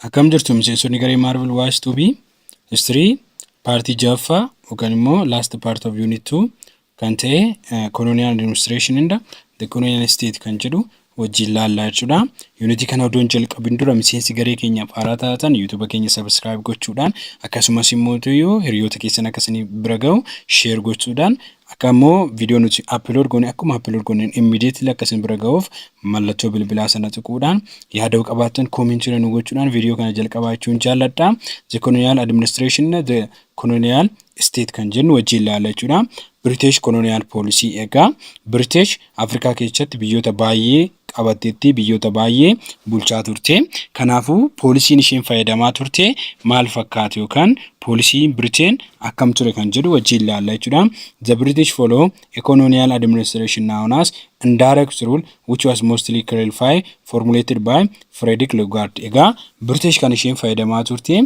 Akkam jirtu miseensonni garee Marvel Watch to be history paartii ja'affaa yookaan immoo last part of unit 2 kan ta'e eh, colonial administration and the colonial state kan jedhu wajjin laallaa jechuudha. Yuunitii kana odoon jalqabin dura miseensi garee keenyaaf haaraa taatan yuutuuba keenya sabiskiraayib gochuudhaan akkasumas immoo tuyuu hiriyoota keessan akka isin bira ga'u sheer gochuudhaan Akka immoo viidiyoo nuti upload goone akkuma upload gooneen immediately akka isin bira ga'uuf mallattoo bilbilaa sana tuquudhaan yaada yoo qabaattan comment irra nu gochuudhaan viidiyoo kana jalqabaa jechuun jaalladha. The Colonial Administration na The Colonial State kan jennu wajjin ilaalla jechuudha. British Colonial Policy egaa British Afrikaa keessatti biyyoota baay'ee qabatteetti biyyoota baay'ee bulchaa turte. Kanaafuu poolisiin isheen fayyadamaa turte maal fakkaata yookaan poolisiin Briteen akkam ture kan jedhu wajjin ilaalla jechuudha. The British follow a colonial administration known as indirect rule which was mostly clarified formulated by Frederick Lugard. Egaa British kan isheen fayyadamaa turte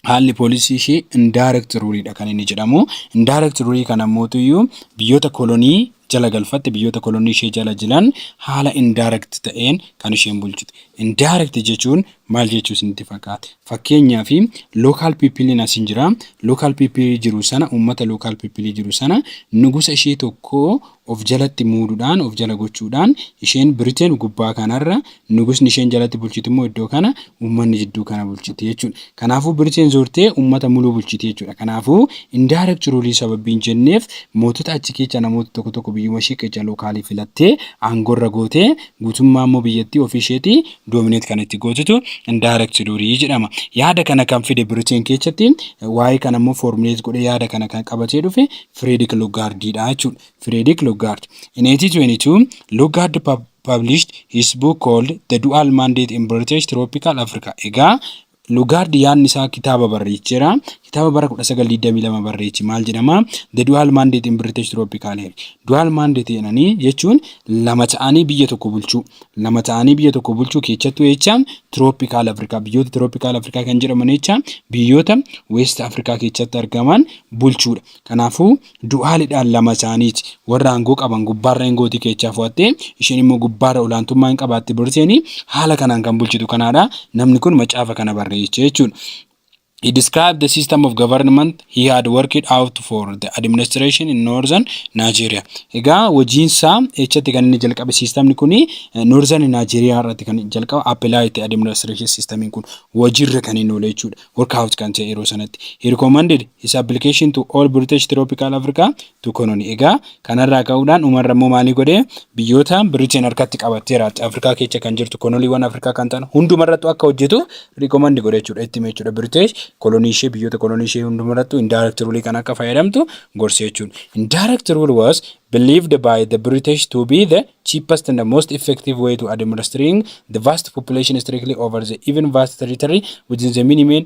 haalli poolisii ishee indirect rule dha kan inni jedhamu. Indirect rule kana mootuyyuu biyyoota kolonii jala galfatte biyyoota kolonii ishee jala jiran haala indirect ta'een kan isheen bulchite. Indirect jechuun maal jechuu isinitti fakkaata? Fakkeenyaaf local people asiin jira. Local people jiru sana uummata local people jiru sana nugusa ishee tokko of jalatti muuduudhaan, of jala gochuudhaan, isheen Britain gubbaa kanarra, nugusni isheen jalatti bulchitu immoo iddoo kana, uummanni jidduu kana bulchiti jechuudha. Kanaafuu Britain zoortee uummata muluu bulchiti jechuudha. Kanaafuu indirect rule sababbiin jenneef mootota achi keechaa namoota tokko tokko biyyuma ishee keechaa lookaalii filattee aangorra gootee guutummaa immoo biyyattii ofii isheetii dominate kan itti gootutu indirect rule jedhama. Yaada kana kan fide Britain keechatti waa'ee kana immoo formulate godhee yaada kana kan qabatee dhufe Frederick Lugard dha jechuudha. Frederick Lugard. In 1822, Lugard pub- published his book called The Dual Mandate in British Tropical Africa. Egaa Lugard yaadni isaa kitaaba barreecheera. Kitaaba bara 1922 barreeche maal jedhama? The Dual Mandate in British Tropical Area. Dual Mandate jedhanii jechuun lama ta'anii biyya tokko bulchuu. lama ta'anii biyya tokko bulchuu keechattu jecha tiroopikaal Afrikaa biyyoota tiroopikaal Afrikaa kan jedhaman jecha biyyoota Weest Afrikaa keechatti argaman bulchuudha. Kanaafuu du'aalidhaan lama isaaniiti warra aangoo qaban gubbaarra ingootii keechaa fo'attee isheen immoo gubbaarra olaantummaa hin qabaatte Biriteen haala kanaan kan bulchitu kanaadha namni kun macaafa kana barreeche jechuudha. He described the system of government he had worked out for the administration in northern Nigeria. Egaa hojiinsaa echatti kan inni jalqabe siistamni kun northern Nigeria irratti kan jalqaba apply itti administration systemiin kun hojiirra kan inni oole jechuudha. Workout kan ta'e yeroo sanatti. He recommended his application to all British tropical Africa dukononi egaa kanarraa ka'uudhaan umarra immoo maalii godhee biyyoota Britain harkatti qabatteera Afrikaa keecha kan jirtu konoliiwwan Afrikaa kan ta'an hundumarrattu akka hojjetu riikomandi godhe jechuudha itti hime jechuudha British kolonii ishee biyyoota kolonii ishee hundumarrattu indirect rule kan akka fayyadamtu gorse jechuudha indirect rule was believed by the British to be the cheapest and the most effective way to administering the vast population strictly over the even vast territory within the minimum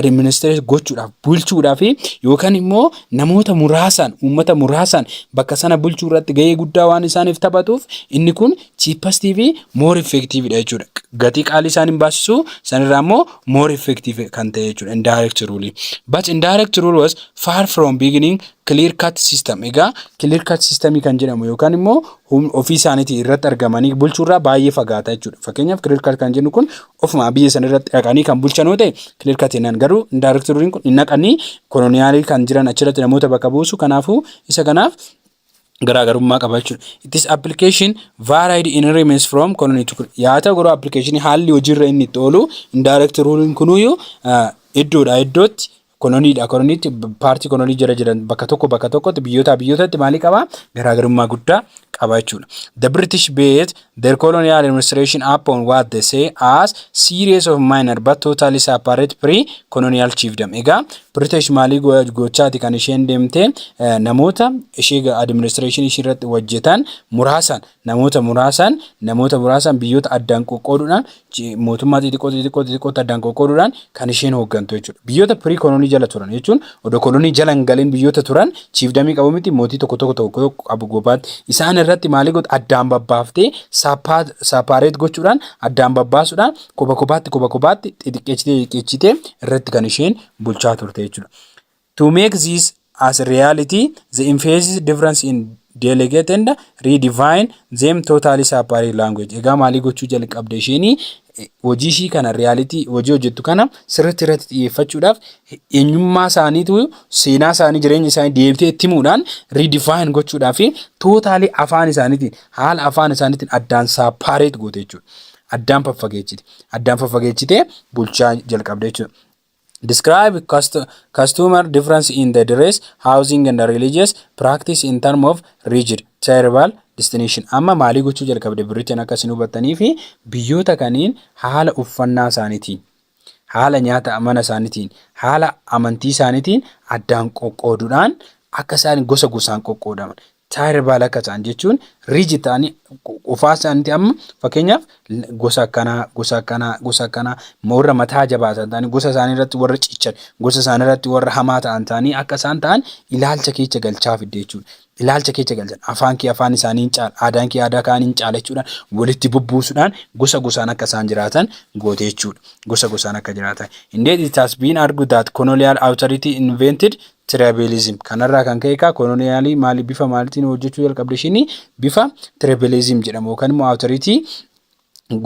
administrate gochuudhaaf bulchuudhaaf yookaan immoo namoota muraasaan uummata muraasaan bakka sana bulchuu irratti gahee guddaa waan isaaniif taphatuuf inni kun cheapest fi more effective dha jechuudha. Gatii qaalii isaan hin baasisu sanirraa immoo more effective kan ta'e jechuudha indirect rule. But indirect rule was far from beginning clear cut system. Egaa clear cut system kan jedhamu yookaan immoo ofii isaaniitii irratti argamanii bulchuurraa baay'ee fagaata jechuudha. Fakkeenyaaf clear cut kan jennu kun ofuma biyya san irratti dhaqanii kan bulchan yoo ta'e clear cut jennaan garuu indaayrektoriin kun hin dhaqanii koloniyaalii kan jiran achirratti namoota bakka buusu kanaafuu isa kanaaf garaagarummaa qaba jechuudha. It is application varied in remains from colony to colony. Yaa ta'u garuu application haalli hojiirra inni itti oolu indirect ruling kunuyyuu iddoodhaa iddootti koloniidha. Koloniitti paartii kolonii jala jiran bakka tokko bakka tokkotti biyyootaa biyyootatti maalii qabaa garaagarummaa guddaa qaba jechuudha. The British based their colonial administration upon what they say as series of minor but totally separate pre-colonial chiefdom. Egaa British maalii gochaati kan isheen deemtee namoota ishee administration ishee irratti hojjetan muraasan Namoota muraasaan, namoota muraasaan biyyoota addaan qoqqooduudhaan, mootummaa xixiqqoo xixiqqoo xixiqqootti addaan qoqqooduudhaan kan isheen hooggantu jechuudha. Biyyoota pirii kolonii jala turan jechuun odoo kolonii jala hin galin biyyoota turan chiifdamii qabu miti mootii tokko tokko tokko tokko qabu gobaatti. Isaan irratti maalii goota addaan babbaaftee saapaareet gochuudhaan addaan babbaasuudhaan koba kobaatti koba kobaatti xixiqqeechitee xixiqqeechitee irratti kan isheen bulchaa turte jechuudha. To make this as reality, the emphasis difference in delegate and redefine them totally separate language. Egaa maalii gochuu jalqabde isheenii hojii ishii kana riyaalitii hojii hojjettu kana sirriitti irratti xiyyeeffachuudhaaf eenyummaa isaaniitu seenaa isaanii jireenya isaanii deebitee itti himuudhaan riidifaayin gochuudhaa fi tootaalii afaan isaaniitiin haala afaan isaaniitiin addaan saapaareet goote jechuudha. Addaan faffageechite. Addaan faffageechitee bulchaa jalqabde jechuudha. Describe customer difference in the dress, housing and religious practice in term of rigid tribal distinction. Amma maalii gochuu jalqabde birriteen akka isin hubattanii fi biyyoota kaniin haala uffannaa isaaniitiin, haala nyaata mana isaaniitiin, haala amantii isaaniitiin addaan qoqqooduudhaan akka isaan gosa gosaan qoqqoodaman. Taayira baala akka ta'an jechuun riiji ta'anii qofaa isaaniitti amma fakkeenyaaf gosa akkanaa gosa akkanaa gosa akkanaa warra mataa jabaatan ta'anii gosa isaanii irratti warra cichan gosa isaanii irratti warra hamaa ta'an ta'anii akka isaan ta'an ilaalcha keecha galchaa fidde jechuudha. Ilaalcha keecha galchan afaan kee afaan isaanii hin caala aadaan kee aadaa kaan hin caala jechuudhaan walitti bubbuusuudhaan gosa gosaan akka isaan jiraatan goote jechuudha. Gosa gosaan akka jiraatan. Indeed it has been argued that colonial authority invented Tribalism. Kanarraa kan ka'e egaa koloniyaalii maali bifa maalitiin hojjechuu jalqabde ishini bifa tribalism jedhamu yookaan immoo awutoritii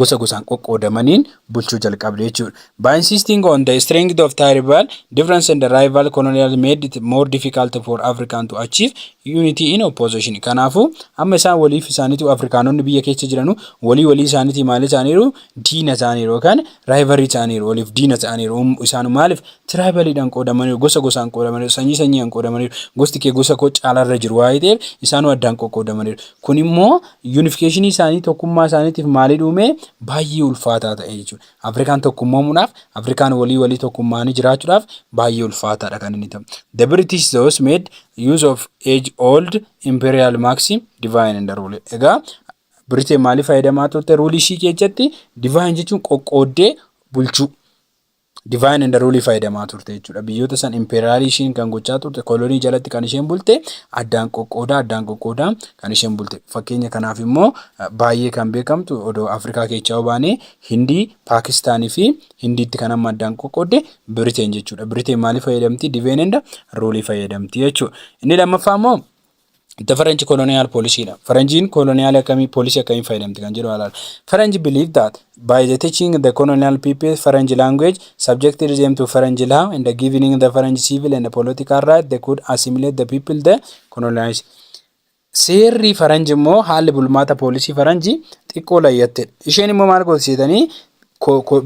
gosa gosaan qoqqoodamaniin bulchuu jalqabde jechuudha. By insisting on the strength of tribal difference and rival colonial made it more difficult for African to achieve unity in opposition. Kanaafuu amma isaan waliif isaaniitu Afrikaanonni biyya keessa jiranu walii walii isaaniitii maal isaaniiru diina ta'aniiru yookaan raayivarii ta'aniiru waliif diina ta'aniiru Um- isaanu maaliif tiraayibaliidhaan qoodamaniiru gosa gosaan qoodamaniiru sanyii sanyiidhaan qoodamaniiru gosti kee gosa koo caalaarra jiru waa'ee ta'eef isaanu addaan qoqqoodamaniiru kun immoo yuunifikeeshinii isaanii tokkummaa isaaniitiif maalii dhuumee baay'ee ulfaataa ta'e jechuudha afrikaan tokkummoomuudhaaf afrikaan walii walii tokkummaanii jiraachuudhaaf baay'ee ulfaataadha kan inni ta'u the british those made use of age old imperial maxim divine and rule egaa Birite maali fayyadamaa turte ruulii ishii keessatti divine jechuun qoqqooddee bulchuu. Divine and ruulii fayyadamaa turte jechuudha. Biyyoota san impeeraalii ishiin kan gochaa turte kolonii jalatti kan isheen bulte addaan qoqqoodaa addaan qoqqoodaa kan isheen bulte. Fakkeenya kanaaf immoo baay'ee kan beekamtu odoo Afrikaa keessaa baanee Hindii, Paakistaanii fi Hindiitti kan amma addaan qoqqoodde Biriteen jechuudha. Biriteen maali fayyadamti? Divine and ruulii fayyadamti jechuudha. Inni lammaffaa immoo The French colonial policy dha. Faranjiin koloniyaal akkamii poolisii akkamiin fayyadamti kan jedhu alaala. Faranji believe that by the teaching the colonial people Faranji language subjected them to Faranji law and the giving the Faranji civil and political right they could assimilate the people the colonized. Seerri Faranji immoo haalli bulmaata poolisii Faranji xiqqoo layyattedha. Isheen immoo maal gooti seetanii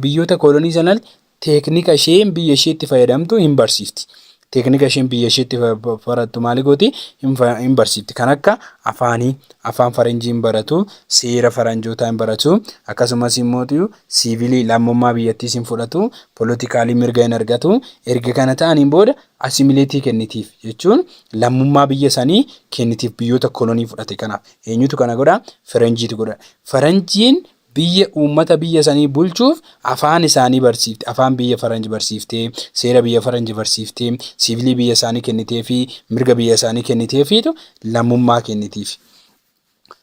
biyyoota kolonii sanatti teeknika isheen biyya isheetti fayyadamtu hin barsiifti. Teeknika isheen biyya isheetti barattu maali gooti hin barsiifti. Kan akka afaanii, afaan faranjii hin baratu, seera faranjootaa hin baratu, akkasumas immoo siivilii lammummaa biyyattiis hin fudhatu, polotikaalii mirga hin argatu. Erga kana ta'aniin booda asimileetii kennitiif jechuun lammummaa biyya sanii kennitiif biyyoota kolonii fudhate kanaaf. Eenyutu kana godha? Faranjiitu godha. Faranjiin biyya uummata biyya sanii bulchuuf afaan isaanii barsiifte afaan biyya faranji barsiiftee seera biyya faranji barsiiftee siivilii biyya isaanii kennitee fi mirga biyya isaanii kennitee fiitu lammummaa kennitiif.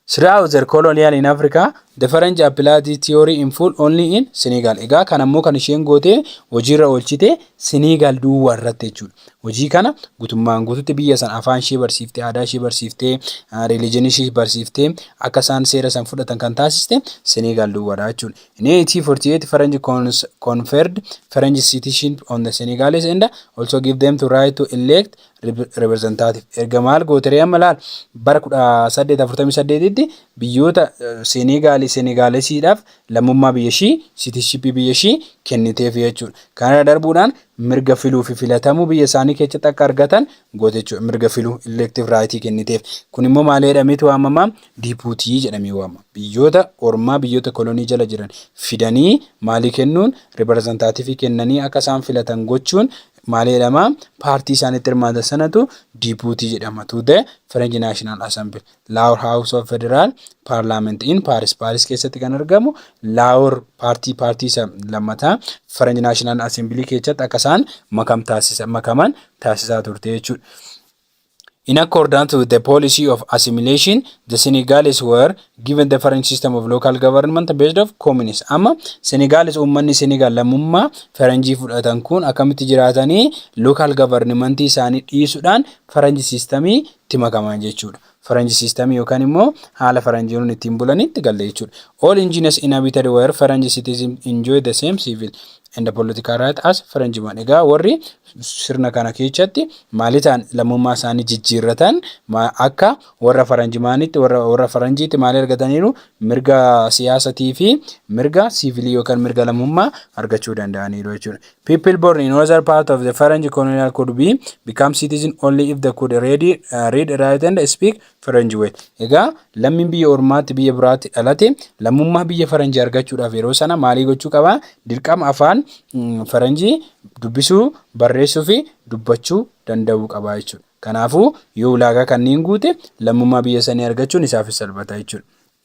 Throughout their colonial in Africa, the French applied this theory in full only in Senegal. Egaa kan ammoo kan isheen gootee hojiirra oolchite Senegal duwwaa irratti jechuudha. Hojii kana gutummaan guututti biyya san afaan ishee barsiiftee, aadaa ishee barsiiftee, religion ishee barsiiftee akka isaan seera san fudhatan kan taasiste Senegal duwwaadha jechuudha. In 1848 Faranji cons- conferred French citizenship on the Senegalese and also give them to right to elect rep- representative. Erga maal gooteree amma laal bara 1848tti biyyoota eh, Senegaali Senegaalesiidhaaf lammummaa biyya ishii citizenship biyya ishii kenniteef jechuudha. Kanarra darbuudhaan mirga filuu fi filatamuu biyya isaanii keessatti akka argatan goota jechuudha. Mirga filuu, elective right, kenniteef. Kun immoo maal jedhameeti waamama? Dipuutii jedhamee waamama. Biyyoota ormaa, biyyoota kolonii jala jiran fidanii maalii kennuun? Ripireezentaativii kennanii akka isaan filatan gochuun maal jedhama? Paartii isaan itti hirmaatan sanatu dipuutii jedhama. To the French National Assembly. Laawor Haawus of Federaal Paarlaament in Paaris Paaris keessatti kan argamu Laawor paartii paartii isa lammataa Faranj Naashinaal Asembilii keessatti akka isaan makam taasisa makaman taasisaa turte jechuudha. In accordance with the policy of assimilation, the Senegalese were given the French system of local government based of communes. Amma Senegalis uummanni Senegal lammummaa Faranjii fudhatan kun akkamitti jiraatanii local government isaanii dhiisuudhaan Faranji sistamii tti makaman jechuudha. Faranji system yookaan immoo haala faranjiiron ittiin bulaniitti galle jechuudha. All engineers inhabited were Faranji citizens enjoy the same civil and political right as Faranjiman. Egaa warri sirna kana keechatti maali ta'an lammummaa isaanii jijjiirratan akka warra Faranjimaanitti warra warra Faranjiitti maali argataniiru mirga siyaasatii fi mirga siivilii yookaan mirga lammummaa argachuu danda'aniiru jechuudha. People born in other part of the French colonial could be become citizen only if they could read, uh, read write and speak French well. Egaa lammiin biyya ormaatti biyya biraatti dhalate lammummaa biyya faranjii argachuudhaaf yeroo sana maalii gochuu qaba? Dirqama afaan mm, faranjii dubbisuu, barreessuu fi dubbachuu danda'uu qaba jechuudha. Kanaafuu yoo ulaagaa kanneen guute lammummaa biyya sanii argachuun isaafis salphata jechuudha.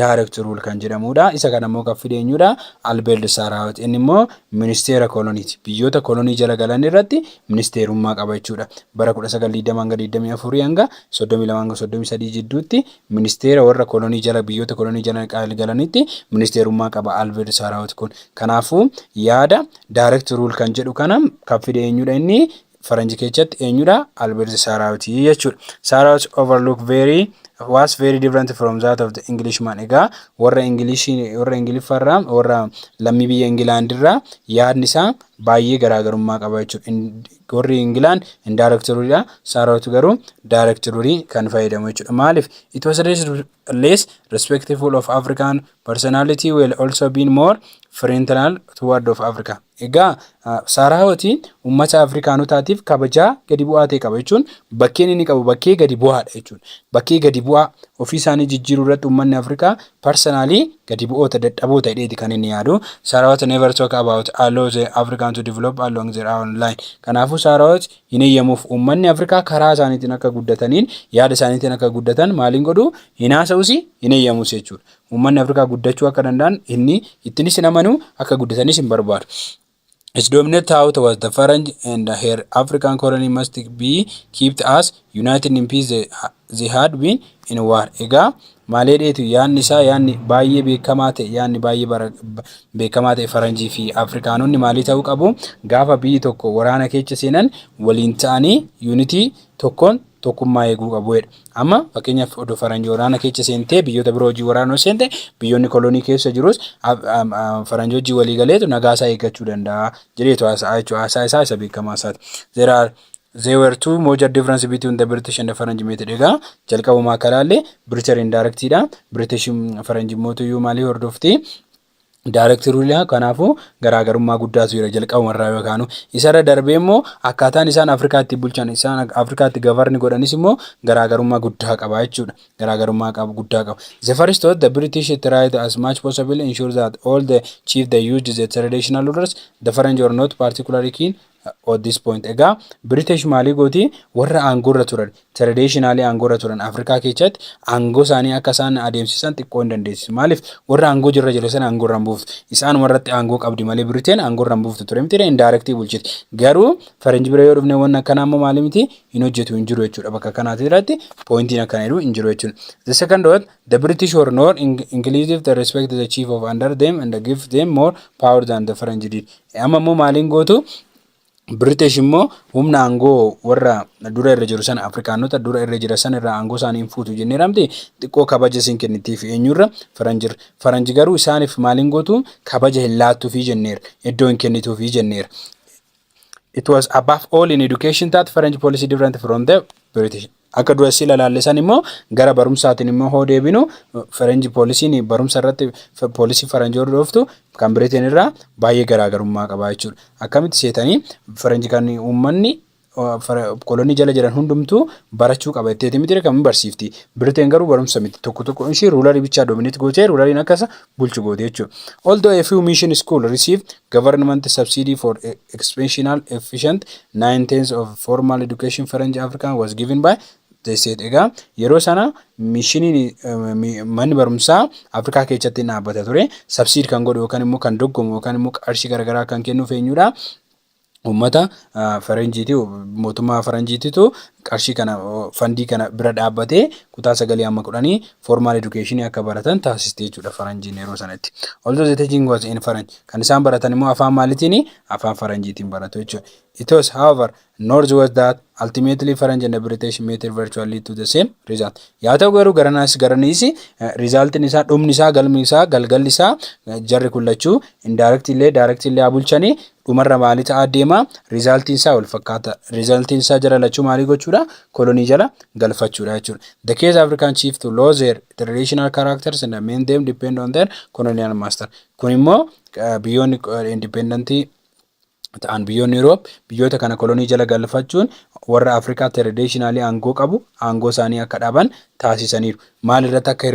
direct rule kan jedhamuudha. Isa kana immoo kan fide eenyuudha? Albert Sarahut. Inni immoo ministeera koloniiti. Biyyoota kolonii jala galan irratti ministeerummaa qaba jechuudha. Bara 1920-24 hanga 32-33 jidduutti ministeera warra kolonii jala biyyoota kolonii jala galanitti ministeerummaa qaba Albert Sarahut kun. Kanaafuu yaada direct rule kan jedhu kana kan fide eenyuudha inni? faranji kechatti eenyudha Albert Saraut jechuudha. Saraut overlook very was very different from that of the Englishman. Egaa warra English warra Ingiliffarraa warra lammii biyya Ingilaandirraa yaadni isaa baay'ee garaagarummaa qaba jechuudha. In- Warri Ingilaan indaayireektaruudha. Saraut garuu daayireektaruurii kan fayyadamu jechuudha. Maaliif? It was less, less respectful of African personality will also be more friendly toward of Africa. Egaa Saaraawatiin uummata Afrikaanotaatiif kabajaa gadi bu'aa ta'e qaba jechuun bakkeen inni qabu bakkee gadi bu'aadha jechuudha. Bakkee gadi bu'aa ofii isaanii jijjiiruu irratti uummanni Afrikaa parsanaalii gadi bu'oota dadhaboo ta'eeti kan inni yaadu. Saaraawat never talk about allow the African to develop along their own line. Kanaafuu Saaraawat hin eeyyamuuf uummanni Afrikaa karaa isaaniitiin akka guddataniin yaada isaaniitiin akka guddatan maaliin godhu Hin haasa'us, hin eeyyamus jechuudha. Uummanni Afrikaa guddachuu akka danda'an inni ittinis hin amanu, akka guddatanis hin barbaadu. Its dominant thought was the Faranj and her African colony must be kept as united in peace they, they had been in war. Egaa maalee dheetu yaanni isaa yaanni baay'ee beekamaa ta'e yaanni baay'ee bara- ba- beekamaa ta'e faranjii fi afrikaanonni maalii ta'uu qabu gaafa biyyi tokko waraana keessa seenan waliin ta'anii yuunitii tokkoon tokkummaa eeguu qabu jedha. Amma fakkeenyaaf odoo faranji waraana keessa seentee biyyoota biroo hojii waraana yoo seente biyyoonni kolonii keessa jirus faranji hojii walii galeetu nagaa isaa eeggachuu danda'a jedheetu haasa'a jechuudha. Haasaa isaa isa beekamaa isaati. There are there were two major difference between the British and the Faranj method. Egaa jalqabumaa akka ilaalle British indirectidha. British faranji mootuyyuu maalii hordofti? Direct rule kanaafuu garaagarummaa guddaatu jira jalqabuma irraa yoo kaanu isarra darbee immoo akkaataan isaan Afrikaatti bulchan isaan Afrikaatti gavarni godhanis immoo garaagarummaa guddaa qaba jechuudha garaagarummaa qabu guddaa qaba the first thought the British tried as much possible ensure that all the chief they used the traditional rulers the French were not particularly keen at this point egaa British maalii gooti warra aangoorra turan traditionally aangoorra turan Afrikaa keessatti aangoo isaanii akka isaan adeemsisan xiqqoo hin dandeessisu maaliif warra aangoo jirra jedhe sana aangoorra hin buuftu isaan warratti aangoo qabdi malee Britain aangoorra hin buuftu ture miti indirectly bulchiti garuu faranji bira yoo dhufne wanna akkanaa immoo maalii miti hin hojjetu hin jiru jechuudha bakka kanaati irratti pointiin akkana jedhu hin jiru jechuudha the second one The British were not in- inclusive to respect the chief of under them and give them more power than the French did. Amma immoo maaliin gootu British immoo humna aangoo warra dura irra jiru sana Afrikaanota dura irra jira sana irraa aangoo isaanii hin fuutu jennee ramte xiqqoo kabaja isin kennitiif eenyurra faranjir faranji garuu isaaniif maaliin gootu kabaja hin laattuufii jenneera iddoo hin kennituufii jenneera. it was above all in education that French policy different from the British. Akka duratti ilaalle san immoo gara barumsaatiin immoo hoo deebinu French poolisiin barumsa irratti poolisii Faranjii hordoftu kan Biriteen irraa baay'ee garaagarummaa qabaa jechuudha. Akkamitti seetanii Faranjii kan uummanni kolonii jala jiran hundumtuu barachuu qaba jetteeti miti kan barsiifti. Biriteen garuu barumsa miti tokko tokko ishii ruularii bichaa doomineetti gootee ruulariin akkasa bulchu goote jechuudha. Although a few mission schools receive government subsidy for expansional efficient nine tenths of formal education French African was given by the state. Egaa yeroo sana mishiniin manni barumsaa Afrikaa keessatti dhaabbata ture. Subsiid kan godhu yookaan immoo kan doggomu yookaan immoo qarshii garaagaraa kan kennuuf eenyudha? uummata faranjiiti mootummaa faranjiititu qarshii kana fandii kana bira dhaabbatee kutaa sagalii amma kudhanii formaal edukeeshinii akka baratan taasistee jechuudha faranjiin yeroo sanatti. Although the teaching was in French kan isaan baratan immoo afaan maalitiin afaan faranjiitiin baratu jechuudha. It was however north was that ultimately French and British method virtually lead to the same result. Yaa ta'u garuu garanaas garaniis rizaaltiin isaa dhumni isaa galmi isaa galgalli isaa jarri kun lachuu indirect illee direct illee haa bulchanii Dhumarra maali ta'aa deema? Result'n isaa wal fakkaata. Result'n isaa jara lachuu maalii gochuudha? Colony jala galfachuudha jechuudha. The case African chief to lose their traditional characters and amend them depend on their colonial master. Kun immoo biyyoonni independent ta'an biyyoonni Europe biyyoota kana kolonii jala galfachuun warra Afrikaa traditionally aangoo qabu aangoo isaanii akka dhaban taasisaniiru. maal irratti akka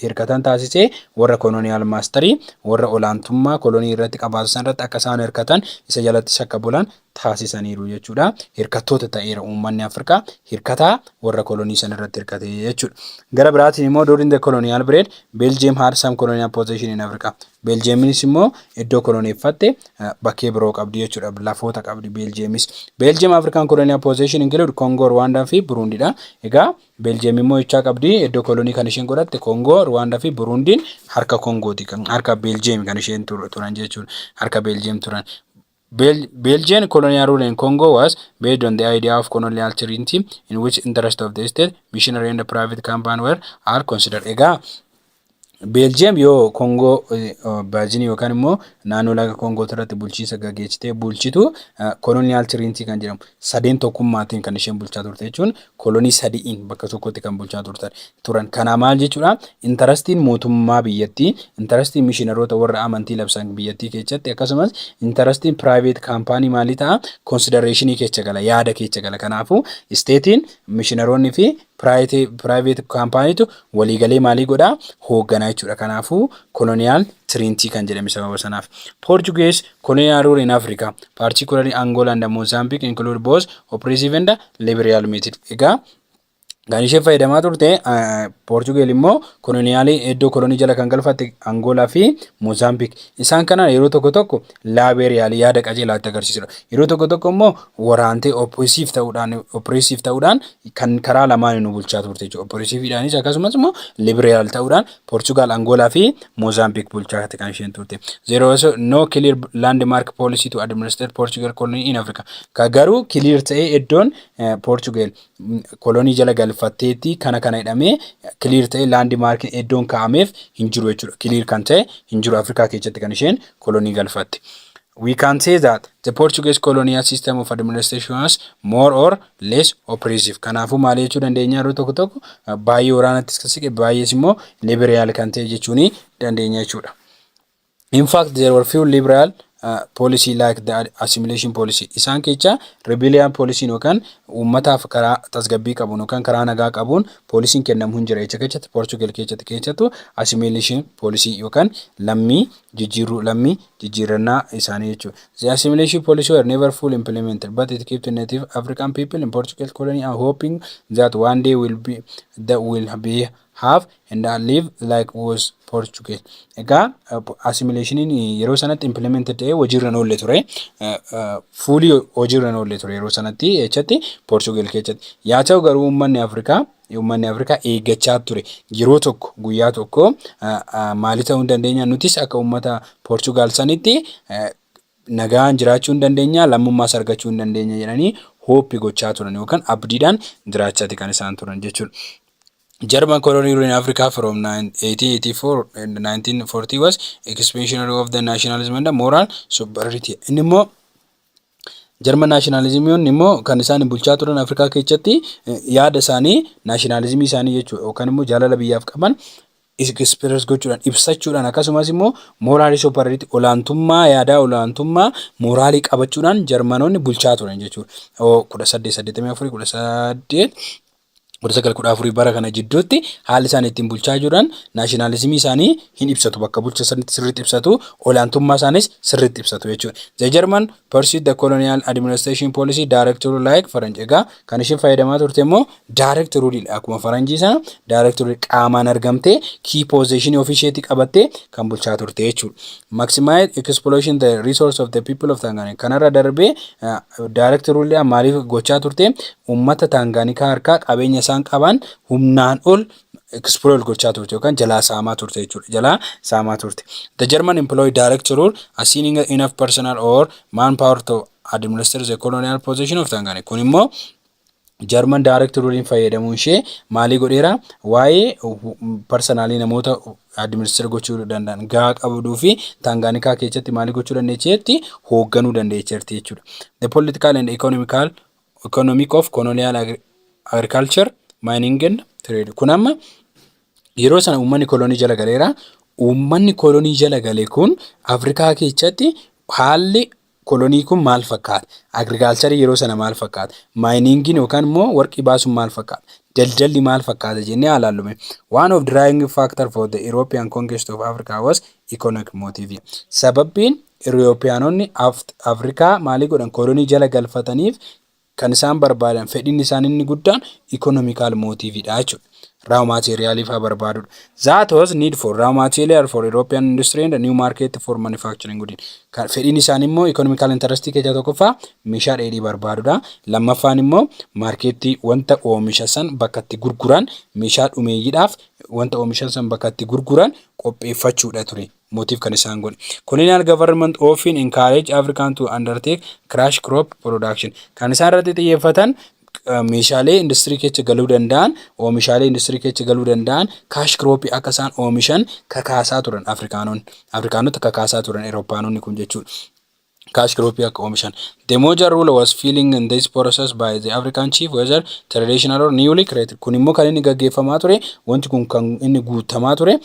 hirkatan taasise warra koloniyaal maastarii warra olaantummaa kolonii irratti qabaatu san irratti akka isaan hirkatan isa jalatti shakka bulan taasisaniiru jechuudha. Hirkattoota ta'eera uummanni Afrikaa hirkataa warra kolonii san irratti hirkate jechuudha. Gara biraatiin immoo during the colonial period Belgium had some colonial possession in Africa. Belgiumis immoo iddoo koloneeffatte eh, bakkee biroo qabdi jechuudha. Lafoota qabdi Belgiumis. Belgium African colonial possession include Congo, Rwanda fi Burundi dha. Egaa Beeljiyeem immoo ichaa qabdi. Iddoo kolonii kan isheen godhatte Koongoo, Ruwaandaa fi Buruundiin harka Koongooti. Harka Beeljiyeem kan isheen turan jechuudha. Harka Beeljiyeem turan. Bel Belgian colonial rule in Congo was based on the idea of colonial treaty in which interest of the state, missionary and private company were are considered. Egaa Beeljiyeem yoo Koongoo Baajinii yookaan immoo naannoo laga Koongoo irratti bulchiinsa gaggeessitee bulchitu koloniyaal tiriintii kan jedhamu sadeen tokkummaatiin kan isheen bulchaa turte jechuun kolonii sadi'iin bakka tokkotti kan bulchaa turtan turan. Kanaa maal jechuudha? Intarastiin mootummaa biyyattii, intarastiin mishinaroota warra amantii labsan biyyattii keessatti akkasumas intarastiin piraayiveet kaampaanii maalii ta'a? Konsidareeshinii keessa gala, yaada keessa gala. Kanaafuu isteetiin mishinaroonni fi Private company tu waliigalee maalii godhaa hooggana jechuudha. Kanaafuu colonial trinity kan jedhame sababa sanaaf. Portuguese colonial rule in Africa, particularly Angola and Mozambique include both oppressive and liberal method. Egaa kan ishee fayyadamaa turte Portugal immoo koloniyaalii iddoo kolonii jala kan galfatte Angola fi Mozambique. Isaan kana yeroo tokko tokko laabeeriyaal yaada qajeelaa itti agarsiisudha. Yeroo tokko tokko immoo waraantee oppressive ta'uudhaan oppressive ta'uudhaan kan karaa lamaanii nu bulchaa turte jechuudha. Oppressiveedhaanis akkasumas immoo liberal ta'uudhaan Portugal, Angola fi Mozambique bulchaa turte kan isheen turte. There was no clear landmark policy to administer Portugal colony in Africa. Ka garuu clear ta'ee iddoon eh, Portugal mm, kolonii jala galfatteetti kana kana jedhamee clear ta'ee landmark iddoon kaa'ameef hin jiru jechuudha. Clear kan ta'e hin jiru Afrikaa keessatti kan isheen kolonii galfatte. We can say that the Portuguese colonial system of administration was more or less oppressive. Kanaafuu maal jechuu dandeenya yeroo tokko tokko baay'ee waraanattis kan siqe baay'ees immoo liberal kan ta'e jechuu ni dandeenya jechuudha. In fact, there were few liberal uh, policy like the assimilation policy. Isaan kecha rebellion policy yookaan uummataaf karaa tasgabbii qabuun yookaan karaa nagaa qabuun poolisiin kennamu hin jira. Echa kechatti Portugal kechatti kechatu assimilation policy yookaan lammii jijjiirruu lammii jijjiirrannaa isaanii jechuudha. The assimilation policy were never fully implemented, but it kept native African people in Portugal colony and hoping that one day will be, that will be have and live like was Portugal. Egaa assimilationiin yeroo sanatti implemented ta'ee hojiirra hin oolle ture. Fuulii hojiirra hin oolle ture yeroo sanatti jechatti Portugal keessatti. Yaa ta'u garuu uummanni Afrikaa Uummanni Afrikaa eeggachaa ture. Yeroo tokko guyyaa tokko maali ta'uu dandeenya nutis akka uummata Poorchugaal sanitti nagaan jiraachuu hin dandeenya lammummaas argachuu hin dandeenya jedhanii hooppi gochaa turan yookaan abdiidhaan jiraachaati kan isaan turan jechuudha. German colony rule in Africa from 1884 and 1940 was expansionary of the nationalism and the moral superiority. Inni immoo Jarman naashinaalizimiyoonni immoo kan isaan bulchaa turan Afrikaa keessatti yaada isaanii naashinaalizimii isaanii jechuudha yookaan immoo jaalala biyyaaf qaban express gochuudhaan ibsachuudhaan akkasumas immoo mooraalii soopparariitti olaantummaa yaadaa olaantummaa mooraalii qabachuudhaan jarmanoonni bulchaa turan jechuudha. kudha saddeet saddeettamii afurii kudha saddeet 1914 bara kana jidduutti haalli isaan ittiin bulchaa jiran naashinaalizimii isaanii hin ibsatu bakka bulcha isaaniitti sirriitti ibsatu olaantummaa isaanis sirriitti ibsatu jechuudha. The German pursued the colonial administration policy direct rule like Faranj egaa kan isheen fayyadamaa turte immoo direct rule dha akkuma Faranjii sana direct rule qaamaan argamtee key position ofii isheetti qabattee kan bulchaa turte jechuudha. Maximize exploitation the resource of the people of Tanganyika kanarra darbee direct rule maaliif gochaa turte Uummata Taangaanikaa harkaa qabeenya isaan qabaan humnaan ol exploit gochaa turte yookaan jalaa saamaa turte jechuudha. Jalaa saamaa turte. The German employee direct rule assigning enough personal or manpower to administer the colonial possession of Tanganyika. Kun immoo Jarman direct rule'n fayyadamuun ishee maalii godheera? Waa'ee parsanaalii namoota administer gochuu danda'an gahaa qabduu fi Taangaanikaa keessatti maalii gochuu dandeecheetti hoogganuu dandeecherti jechuudha. The political and economical economic of colonial agri- agriculture mining and trade kun amma yeroo sana uummanni kolonii jala galeera uummanni kolonii jala gale kun afrikaa keessatti haalli kolonii kun maal fakkaata agriikaalcharii yeroo sana maal fakkaata maayiningiin yookaan immoo warqii baasuun maal fakkaata daldalli maal fakkaata jennee haalaallume one of drying factor for the european conquest of africa was Economic motive. Sababbiin Iriyoopiyaanonni Afrikaa maalii godhan kolonii jala galfataniif kan isaan barbaadan fedhiin isaan inni guddaan economical motive dha jechuudha. Raw material faa barbaadudha. That was need for raw material for European industry and new market for manufacturing good. Fedhiin isaan immoo economical interest keessaa tokkoffaa meeshaa dheedhii barbaadudha. Lammaffaan immoo maarkeettii wanta oomisha san bakka itti gurguran meeshaa dhumeeyyiidhaaf wanta oomishan san bakka itti gurguran qopheeffachuudha ture mootiif kan isaan godhe. Colonial government often encourage African to undertake crash crop production. Kan isaan irratti xiyyeeffatan meeshaalee industirii keessa galuu danda'an, oomishaalee industirii keessa galuu danda'an kaash kirooppii akka isaan oomishan kakaasaa turan Afrikaanonni. Afrikaanota kakaasaa turan Erooppaanonni kun jechuudha. cash crop akka oomishan. The Moja rule was feeling in this process by the African chief whether traditional or newly created. Kun immoo kan inni gaggeeffamaa ture, wanti kun kan inni guuttamaa ture,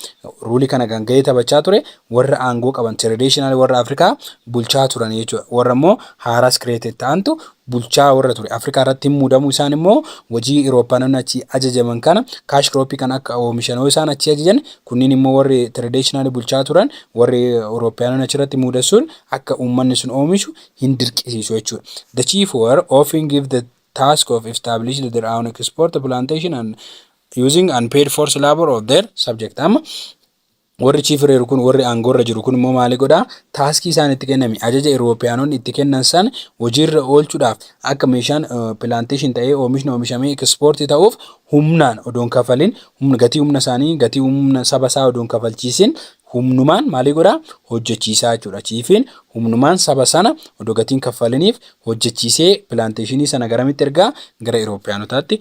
ruulii kana kan gahee taphachaa ture warra aangoo qaban traditional warra Afrikaa bulchaa turan jechuudha. Warra immoo haaraas created ta'antu bulchaa warra ture Afrikaa irratti muudamuu isaan immoo wajii Iroopaanonni achi ajajaman kana kaash kirooppii kan akka oomishan yoo isaan achi ajajan kunniin immoo warri traditional bulchaa turan warri Iroopaanonni achirratti muudassuun akka uummanni sun oomishu hin dirqisiisu jechuudha. The chief war often give the task of established their own export plantation and using unpaid force labor of their subject. Amma Warri chief reeru kun, warri aangoorra jiru kun immoo maali godha? Taaskii isaan itti kenname, ajaja Iroopiyaanonni itti kennan san hojiirra oolchuudhaaf akka meeshaan plantation ta'ee oomishni oomishamee export ta'uuf humnaan odoon kafalin, humna gatii humna isaanii, gatii humna saba isaa odoon kafalchiisin humnumaan maalii godha? Hojjechiisaa jechuudha. Chiifiin humnumaan saba sana odoo gatiin kaffaliniif hojjechiisee plantationii sana garamitti ergaa? Gara Iroopiyaanotaatti.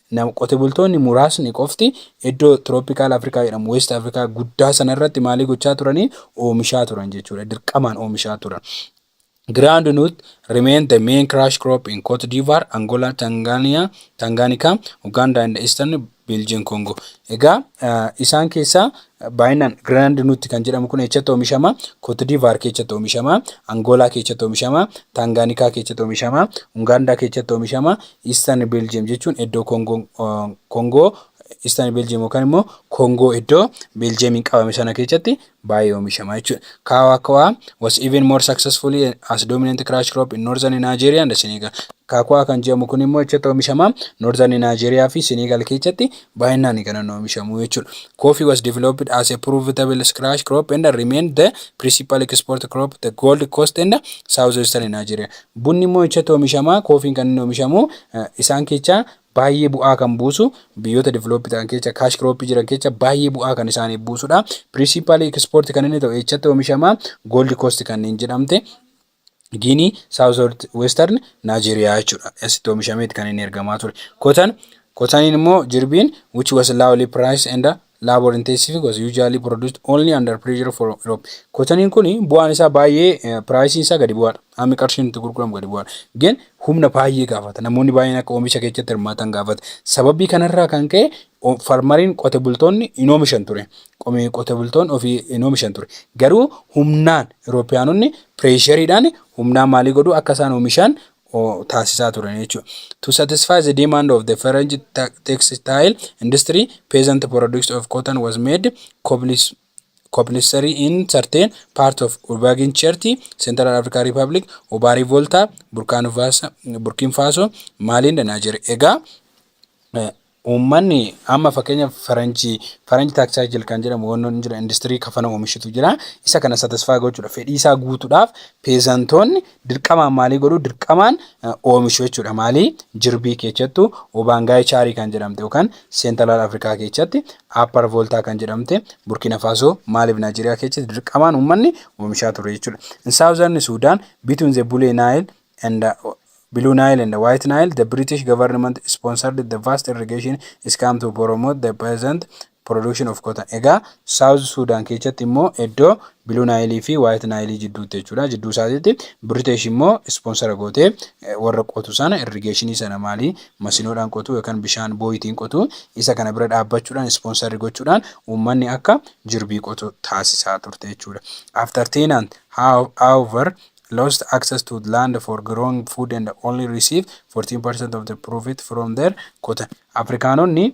Nam, qote bultoonni muraasni qofti iddoo tropical Africa jedhamu, West Africa guddaa sana irratti maalii gochaa turanii? Oomishaa turan jechuudha. Dirqamaan oomishaa turan. Groundnut remained the main crush crop in Cote d'Ivoire, Angola, Tanzania, Tanganyika, Uganda and the Eastern Belgian Congo. Egaa isaan keessaa Baay'inaan Grenade Nut kan jedhamu kun eessatti oomishama? Cote d'Ivoire keessatti oomishama, Angola keessatti oomishama, Tanganyika keessatti oomishama, Uganda keessatti oomishama, Eastern Belgium jechuun iddoo Kongoon Kongoo Eastern Belgium yookaan immoo Kongoo iddoo Belgiumiin qabame sana keessatti baay'ee oomishama jechuudha. Kaawaa Kaawaa was even more successfully as dominant crash crop in northern Nigeria and Senegal. Kaakawaa kan jedhamu kun immoo eessatti oomishama? Northern Nigeria fi Senegal keessatti baay'inaan kan hin oomishamu jechuudha. Coffee was developed as a profitable scratch crop and remained the principal export crop the Gold Coast and Southwestern Nigeria. Bunni immoo echatti oomishama, koofiin kan inni oomishamu isaan kecha baay'ee bu'aa kan buusu biyyoota develop ta'an kecha cash crop jiran kecha baay'ee bu'aa kan isaaniif buusudha. Principal export kan inni ta'u echatti oomishama Gold Coast kanneen jedhamte Giinii, South Western Nigeria jechuudha. Asitti oomishameeti kan inni ergamaa ture. Kotan, kotaniin immoo jirbiin which was lowly priced and labor intensive was usually produced only under pressure from Europe. Kotaniin kun bu'aan isaa baay'ee piraayisiin isaa gadi bu'aadha. Hammi qarshiin itti gurguramu gadi bu'aadha. Gin humna baay'ee gaafata. Namoonni baay'een akka oomisha keessatti hirmaatan gaafata. Sababii kanarraa kan ka'e farmariin qote bultoonni hin oomishan ture. Qomee qote bultoonni ofii hin oomishan ture. Garuu humnaan Iroopiyaanonni pireeshariidhaan humnaan maalii godhuu akka isaan oomishaan taasisaa turan jechuudha. To satisfy the demand of the French textile industry, peasant products of cotton was made compulsory in certain parts of Ubagan Cherti, Central African Republic, Obari Volta, Burkina Faso, Mali and Nigeria. Egaa Uummanni amma fakkeenya faranjii faranji taaksaayikil kan jedhamu wanni hin jira industirii kafana oomishutu jira isa kana satisfaa gochuudha fedhii isaa guutuudhaaf peezantoonni dirqamaan maalii godhu dirqamaan oomishu jechuudha maalii jirbii keessattu obaangaayii chaarii kan jedhamte yookaan seentalaal afrikaa keessatti aappar vooltaa kan jedhamte burkina faasoo maaliif naajeeriyaa keessatti dirqamaan uummanni oomishaa ture jechuudha in saawuzarni suudaan bituun zebulee naayil and the Blue Nile and the White Nile, the British government sponsored the vast irrigation scheme to promote the peasant production of cotton. Egaa South Sudan keessatti immoo iddoo Blue Nile fi White Nile jidduutti jechuudha. Jidduu isaatiitti British immoo sponsora gootee eh, warra qotu sana irrigation sana maalii masinoodhaan qotu yookaan bishaan booyitiin qotu isa kana bira dhaabbachuudhaan sponsor gochuudhaan uummanni akka jirbii qotu taasisaa turte jechuudha. After tenant, how- however, lost access to land for growing food and only receive 14% of the profit from their cotton. Afrikaanonni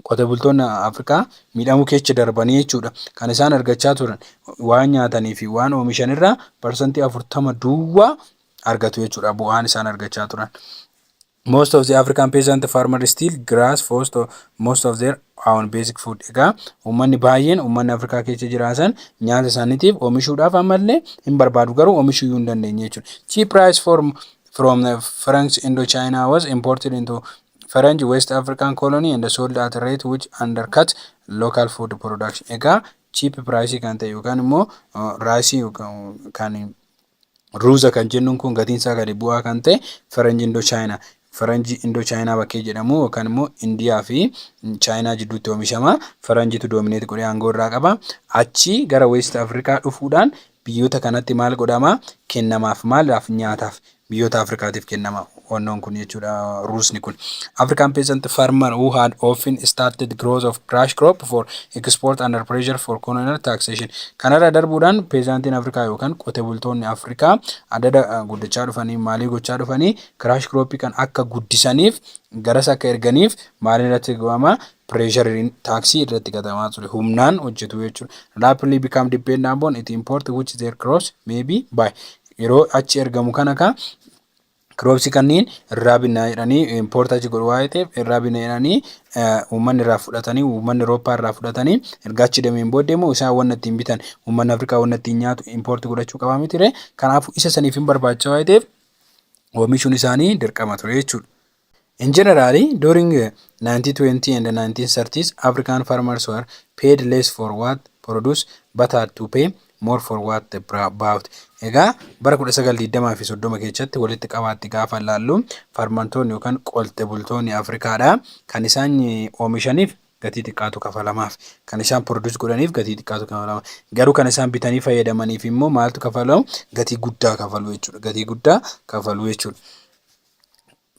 qote bultoonni Afrikaa miidhamuu keessa darbanii jechuudha. Kan isaan argachaa turan waan nyaatanii fi waan oomishan irraa parsantii afurtama duwwaa argatu jechuudha bu'aan isaan argachaa turan. Most of the African peasant farmer still grass for to most of their own basic food. Egaa uummanni baay'een uummanni Afrikaa keessa jiraatan nyaata isaaniitiif oomishuudhaaf ammallee hin barbaadu garuu oomishuu hin dandeenye jechuudha. Cheap rice form from the French Indochina was imported into French West African colony and sold at a rate which undercut local food production. Egaa cheap price kan ta'e yookaan immoo raayisii kan Ruuza kan jennuun kun gatiin isaa gadi bu'aa kan ta'e faranji indoo chaayinaa faranji indoo chaayinaa bakkee jedhamu yookaan immoo indiyaa fi chaayinaa jidduutti oomishama faranjitu doomineeti godhee aangoo irraa qaba achi gara weest afrikaa dhufuudhaan biyyoota kanatti maal godhama kennamaaf maalaaf nyaataaf biyyoota afrikaatiif kennamaaf. wannoon kun jechuudha ruusni kun. African peasant farmer who had often started growth of brush crop for export under pressure for colonial taxation. Kanarra darbuudhaan peezaantiin Afrikaa yookaan qote bultoonni Afrikaa adada guddachaa dhufanii maalii gochaa dhufanii kiraash kirooppii kan akka guddisaniif garas akka erganiif maaliin irratti ga'ama pireeshariin taaksii irratti gatamaa ture humnaan hojjetu jechuudha. Rapidly become dependent upon it import which their crops may be by yeroo achi ergamu kana ka kiroopsi kanniin irraa binnaa jedhanii impoorta achi godhu waa'ee ta'eef irraa binna jedhanii uummanni irraa fudhatanii uummanni Awurooppaa irraa fudhatanii erga achi deemeen booddee immoo isaan wanna ittiin bitan uummanni Afrikaa wanna ittiin nyaatu impoorti godhachuu qabaa miti ree kanaafuu isa saniif hin barbaacha waa'ee ta'eef oomishuun isaanii dirqama ture jechuudha. In general, during the 1920 and 1930s, African farmers were paid less for what produce but had to pay more for what they bought. Egaa bara 1920 fi 30 keessatti walitti qabaatti gaafa laallu farmantoonni yookaan qolte bultoonni Afrikaadha kan isaan oomishaniif gatii xiqqaatu kafalamaaf kan isaan produce godhaniif gatii xiqqaatu kafalama garuu kan isaan bitanii fayyadamaniif immoo maaltu kafalamu gatii guddaa kafalu jechuudha gatii guddaa kafalu jechuudha.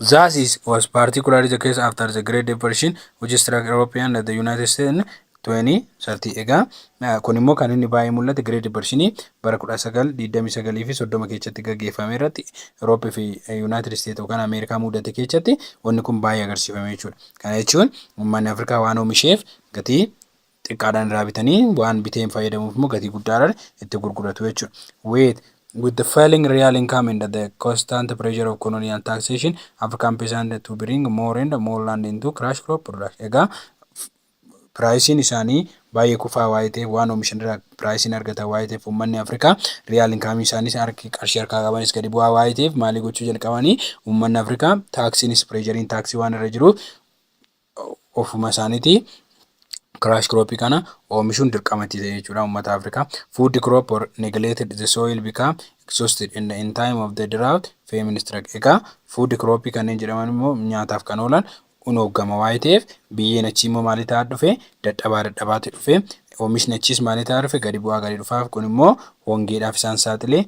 Zasis was particularly the case after the Great Depression, which struck Europe and the United States in 2030. Egaa eh, kun immoo kan inni baay'ee mul'ate Great Depression bara 1929 fi 30 keessatti gaggeeffame irratti Europe fi eh, United States yookaan Ameerikaa mudate keessatti wanni kun baay'ee agarsiifame jechuudha. Kana jechuun uummanni Afrikaa waan oomisheef gatii xiqqaadhaan irraa bitanii waan biteen fayyadamuuf immoo gatii guddaadhaan itti gurguratu jechuudha. With with the falling real income and the constant pressure of colonial taxation, African peasant to bring more and more land into crash crop production. Egaa piraayisiin isaanii baay'ee kufaa waa'ee ta'eef waan oomishan irraa piraayisiin argatan waa'ee ta'eef uummanni Afrikaa riyaal inkaamii isaaniis harki qarshii harkaa qabanis gadi bu'aa waa'ee ta'eef maalii gochuu jalqabanii uummanni Afrikaa taaksiinis pireejariin taaksii waan irra jiruuf ofuma isaaniitii crash crop kana oomishuun dirqama itti ta'e jechuudha uummata Afrikaa. Food crop or neglected the soil become exhausted and in time of the drought famine struck. Egaa food crop kanneen jedhaman immoo nyaataaf kan oolan unooggama waa'ee ta'eef biyyeen achii immoo maalii ta'aa dhufe dadhabaa dadhabaatti dhufe oomishni achiis maalii ta'aa dhufe gadi bu'aa gadi dhufaaf kun immoo hongeedhaaf isaan saaxilee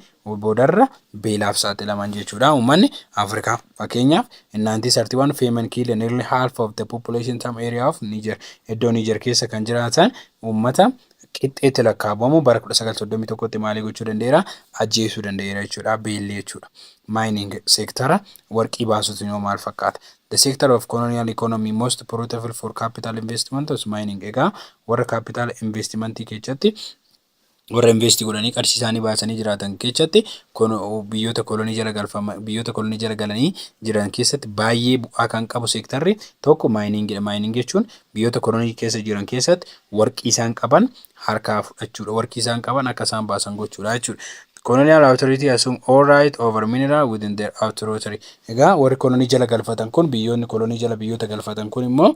boodarra beelaaf saaxilaman jechuudha uummanni Afrikaa. Fakkeenyaaf in 1931 famine killed nearly half of the population some area of Niger. Iddoo Niger keessa kan jiraatan uummata qixxeetti lakkaa'amu bara 1931tti maalii gochuu danda'eera? Ajjeesuu danda'eera jechuudha. Beelli jechuudha. Mining seektara warqii baasutu immoo maal fakkaata? The sector of colonial economy most profitable for capital investment was mining. Egaa warra capital investmentii keessatti warra investi godhanii qarshii isaanii baasanii jiraatan keessatti biyyoota kolonii jala galfama biyyoota kolonii jala galanii jiran keessatti baay'ee bu'aa kan qabu seektarri tokko maayiniingidha. Maayining jechuun biyyoota kolonii keessa jiran keessatti warqii isaan qaban harkaa fudhachuudha. Warqii isaan qaban akka isaan baasan gochuudha jechuudha. Colonial authority assume all right over mineral within their authority. Egaa warri kolonii jala galfatan kun biyyoonni kolonii jala biyyoota galfatan kun immoo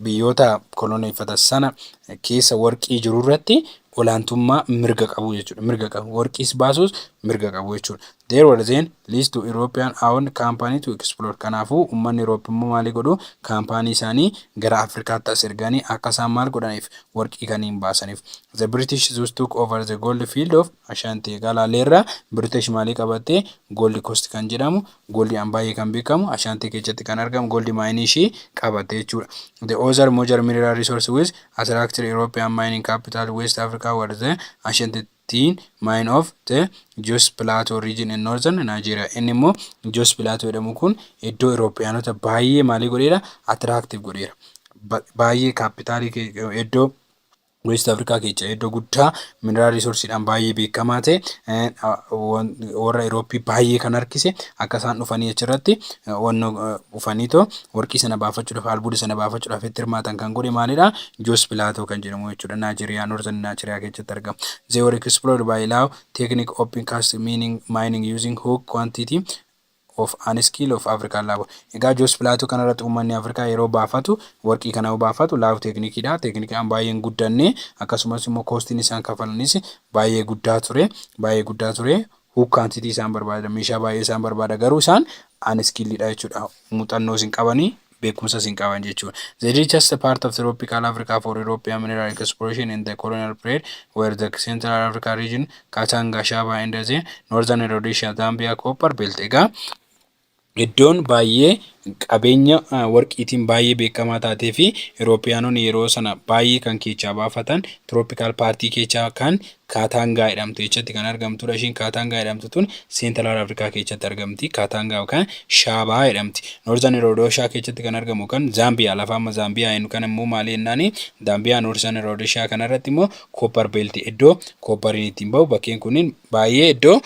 biyyoota koloneeffatan sana keessa warqii jiru irratti olaantummaa mirga qabu jechuudha. Mirga qabu. Warqiis baasuus mirga qabu jechuudha. There were then least to European owned company to explore. Kanaafuu uummanni Europe immoo maalii godhu kaampaanii isaanii gara Afrikaatti as erganii akka isaan maal godhaniif warqii kaniin baasaniif. The British thus took over the gold field of Ashanti. Egaa laaleerra British maalii qabatte gold coast kan jedhamu Gold an baay'ee kan beekamu Ashanti keechatti kan argamu gold mine ishii qabatte jechuudha. The other major mineral resource with attracted European mining capital West Africa were the Ashanti tin mine of the Jos Plateau region in northern Nigeria. Inni immoo Jos Plateau jedhamu kun iddoo Iroopiyaanota baay'ee maalii godheera? Attractive godheera. Baay'ee kaappitaalii iddoo West Afrikaa keecha iddoo guddaa mineraal riisorsiidhaan baay'ee beekamaa ta'e warra Irooppii baay'ee kan harkise akka isaan dhufanii achirratti wanno dhufaniitoo warqii sana baafachuudhaaf albuuda sana baafachuudhaaf itti hirmaatan kan godhe maalidha Joos Pilaatoo kan jedhamu jechuudha Naajeriyaa Noortan Naajeriyaa keessatti argama. They were explored by Lao technique open cast mining, mining using hook quantity of an skill of African love Egaa Jos Plateau kana irratti uummanni Afrikaa yeroo baafatu, warqii kana yoo baafatu love technique dha. Technique dhaan baay'ee hin guddanne. Akkasumas immoo cost inni isaan kafalanis baay'ee guddaa ture. Baay'ee guddaa ture. Hook quantity isaan barbaada. Meeshaa baay'ee isaan barbaada. Garuu isaan unskilled dha jechuudha. Muuxannoos hin qabani. beekumsas hin qaban jechuudha. The richest part of tropical Africa for European mineral exploration in the colonial period were the Central Africa region, Katanga, Shaba and the Northern Rhodesia, Zambia copper belt. Egaa iddoon baay'ee qabeenya warqiitiin baay'ee beekamaa taatee fi Iroopiyaanonni yeroo sana baay'ee kan keechaa baafatan tropical paartii keechaa kan Kaataangaa jedhamtu jechatti kan argamtudha. Ishiin Kaataangaa jedhamtu tun Seentaraal Afrikaa keessatti argamti. Kaataangaa yookaan Shaabaa jedhamti. Noorzan Roodoshaa keessatti kan argamu yookaan Zaambiyaa lafa amma Zaambiyaa jennu kana immoo maali jennaani Zaambiyaa Noorzan Roodoshaa kanarratti immoo Kooppar Beelti iddoo kooppariin ittiin bahu bakkeen kunniin baay'ee iddoo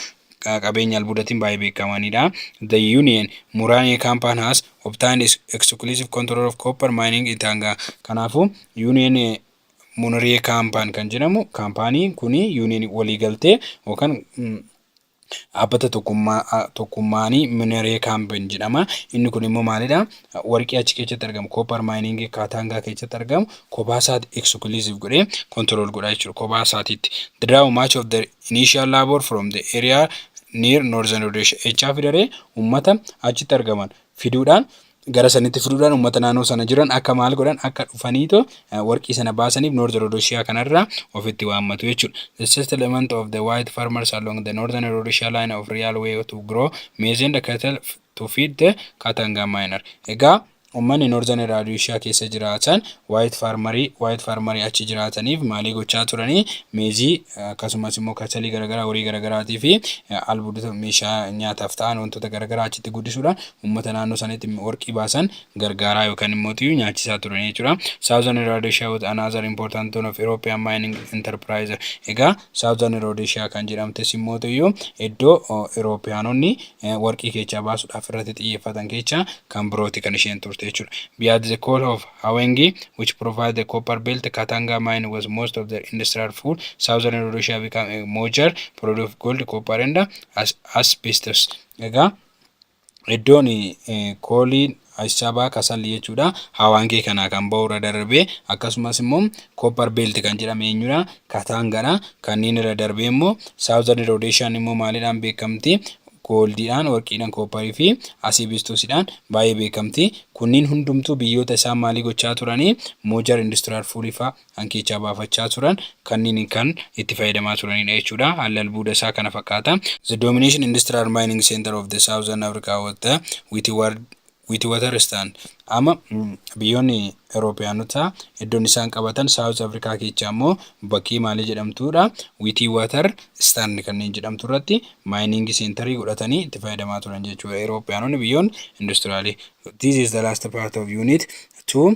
qabeenya albuudatiin baay'ee beekamanidha. The Union Muraanee Kaampaan has obtained exclusive control of copper mining in Taangaa. Kanaafuu Union Muniriyee kaampaan kan jedhamu kaampaaniin kun yuuniin waliigaltee yookaan dhaabbata tokkummaanii Muniriyee kaampaan jedhama. Inni kun immoo maalidha? Warqii achi keessatti argamu koopar maayiniingii kaataangaa keessatti argamu kophaa isaati ekskulusiv godhee kontirool godhaa jechuudha. Kophaa isaatiitti. Draw much of the initial labor from the area near northern Rhodesia. Echaa fidaree uummata achitti argaman fiduudhaan gara sanitti fiduudhaan uummata naannoo sana jiran akka maal godhan akka dhufaniito warqii sana baasaniif North Rhodesia kanarraa ofitti waammatu jechuudha. The settlement of the white farmers along the northern Rhodesia line of real way to grow maize and cattle to feed the Katanga miner. Egaa uummanni Northern Rhodesia keessa jiraatan white farmerii white farmerii achi jiraataniif maalii gochaa turanii meezii akkasumas immoo kasalii garagaraa horii garagaraatii fi albuudota meeshaa nyaataaf ta'an wantoota garagaraa achitti guddisuudhaan uummata naannoo sanitti warqii baasan gargaaraa yookaan immoo tiyyuu nyaachisaa turan jechuudha. Southern Rhodesia was another important town of European mining enterprise. Egaa Southern Rhodesia kan jedhamtes immoo tiyyuu iddoo Iroopiyaanonni warqii keechaa baasuudhaaf irratti xiyyeeffatan keechaa kan birooti kan isheen turte jechuudha. Beyond the coal of Hawenggi, which provide the copper belt Katanga mine was most of their industrial fuel, southern Rhodesia become a mojer, produce gold, copper and as- asbestos. Egaa iddoon eh, kooliin Ashabaa Kasalli jechuudha Hawaangee kanaa kan ba'u irra darbee akkasumas immoo Copper Belt kan jedhame eenyudha Kataangadha kanneen irra darbee immoo Southern Rhodesian immoo maalidhaan beekamti gooldiidhaan, warqiidhaan, koopparii fi asiibiistuusiidhaan baay'ee beekamti. Kunniin hundumtuu biyyoota isaan maalii gochaa turanii moojar industiraal fuulii faa kan keechaa baafachaa turan kanniin kan itti fayyadamaa turaniidha jechuudha. Haalli albuuda isaa kana fakkaata. The domination industrial mining center of the southern Africa was the Witwatersrand Witwatersrand. Amma biyyoonni Euroopiyaanotaa iddoon isaan qabatan South Africa keechaa immoo bakkii maalii jedhamtuudha Witwater Stand kanneen jedhamtu irratti mining centerii godhatanii itti fayyadamaa turan jechuudha Euroopiyaanonni biyyoon industiraali. This is the last part of unit 2.